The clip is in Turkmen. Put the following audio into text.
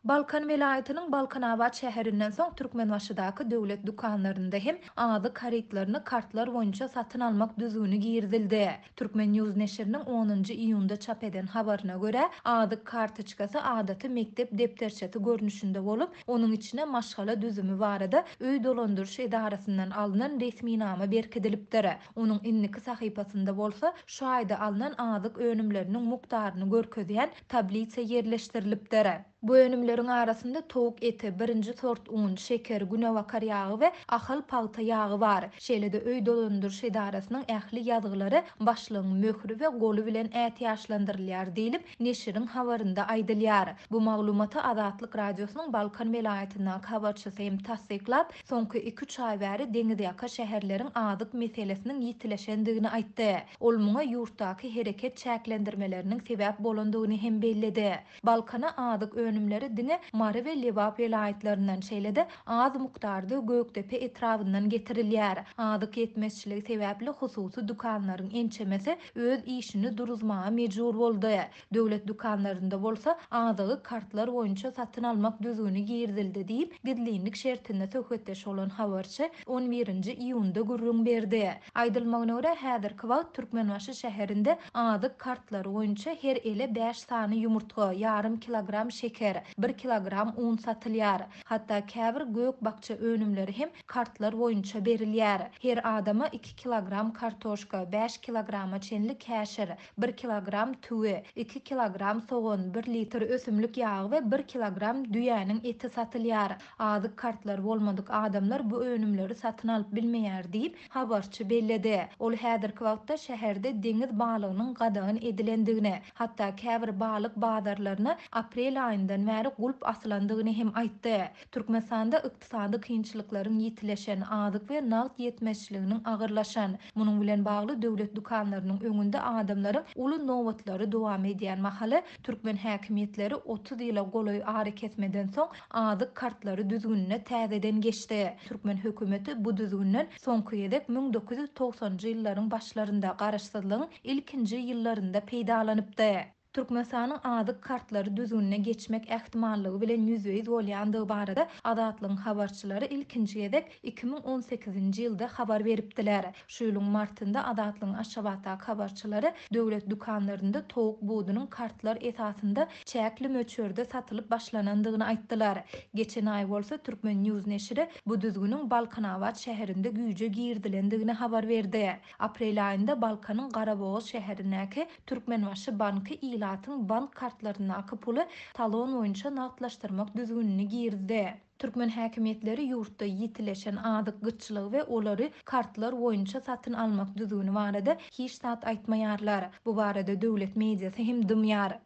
Balkan welaýatynyň Balkanabat şäherinden soň Türkmenbaşydaky döwlet dükanlarynda hem azyk harytlaryny kartlar boýunça satyn almak düzgüni girizildi. Turkmen. News neşiriniň onunjy iýunda çap eden habaryna görä, azyk kartoçkasy adaty mekdep depderçesi görnüşinde bolup, onuň içine maşgala düzümi barada öý dolandyryş edarasyndan alnan resminama berkidilipdir. Onuň indiki sahypasynda bolsa şaýda alnan azyk önümleriniň mukdaryny görkezýän tablisa ýerleşdirilipdir. Bu önümleriň arasynda towuk eti, birinji sort un, şeker, günebakar ýagy we Ahal pagta ýagy bar. Şeýle-de öý dolandyryş edarasynyň ähli ýazgylary başlygyň möhri we goly bilen ätiýaçlandyrylýar diýlip, neşiriň habarynda aýdylýar. Bu maglumaty Azatlyk Radiosynyň Balkan welaýatyndaky habarçysy hem tassyklap, soňky iki-üç aý bäri deňizýaka şäherleriň azyk meselesiniň ýitileşendigini aýtdy. Ol muňa ýurtdaky hereket çäklendirmeleriniň sebäp bolandygyny hem belledi. Balkana azyk önümleri diňe Mary we Lebap welaýatlaryndan, şeýle-de az mukdarda Gökdepe etrabyndan getirilýär. Azyk ýetmezçiligi sebäpli hususy dükanlaryň ençemesi öz işini duruzmaga mejbur boldy. Döwlet dükanlarynda bolsa azygy kartlar boýunça satyn almak düzgüni girizildi diýip, gizlinlik şertinde söhbetdeş bolan habarçy on birinji iýunda gürrüň berdi. Aýdylmagyna görä, häzirki wagt Türkmenbaşy şäherinde azyk kartlary boýunça her ele bäş sany ýumurtga, ýarym kilogram şeker, bir kilogram un satylýar. Hatda käbir gök-bakja önümleri hem kartlar boýunça berilýär. Her adama iki kilogram kartoşka, bäş kilograma çenli käşir, bir kilogram tüwi, iki kilogram sogan, bir litr ösümlik ýagy we bir kilogram düýäniň eti satylýar. Azyk kartlary bolmadyk adamlar bu önümleri satyn alyp bilmeýär diýip, habarçy belledi. Ol häzirki wagtda şäherde deňiz balygynyň gadagan edilendigini, hatda käbir balyk bazarlaryna aprel aýyndan bäri gulp asylandygyny hem aýtdy. Türkmenistanda ykdysady kynçylyklaryň ýitileşen, azyk we nagt ýetmezçiliginiň agyrlaşan, munuň bilen bagly döwlet dükanlarynyň öňünde adamlaryň uly nobatlary dowam edýän mahaly, türkmen häkimiýetleri otuz ýyla golaý arakesmeden soň azyk kartlary düzgünine täzeden geçdi. Türkmen hökümeti bu düzgünden soňky gezek müň dokuz ýüz togsanjy ýyllaryň başlarynda, garaşsyzlygyň ilkinji ýyllarynda peýdalanypdy. Türkmenistanyň azyk kartlary düzgünine geçmek ähtimallygy bilen ýüzbe-ýüz bolýandygy barada Azatlygyň habarçylary ilkinji gezek iki müň on sekizinji ýylda habar beripdiler. Şu ýylyň martynda Azatlygyň Aşgabatdaky habarçylary döwlet dükanlarynda towuk budunyň kartlar esasynda çäkli möçberde satylyp başlanandygyny aýtdylar. Geçen aý bolsa Turkmen. News neşiri bu düzgüniň Balkanabat şäherinde güýje girizilendigini habar berdi. Aprel aýynda Balkanyň Garabogaz şäherindäki Türkmenbaşy banky ilatyň bank kartlaryndaky puly talon boýunça nagtlaşdyrmak düzgünini girizdi. Türkmen häkimiýetleri ýurtda ýitileşen azyk gytçylygy we olary kartlar boýunça satyn almak düzgüni barada hiç zat aýtmaýarlar. Bu barada döwlet mediasy hem dymýar.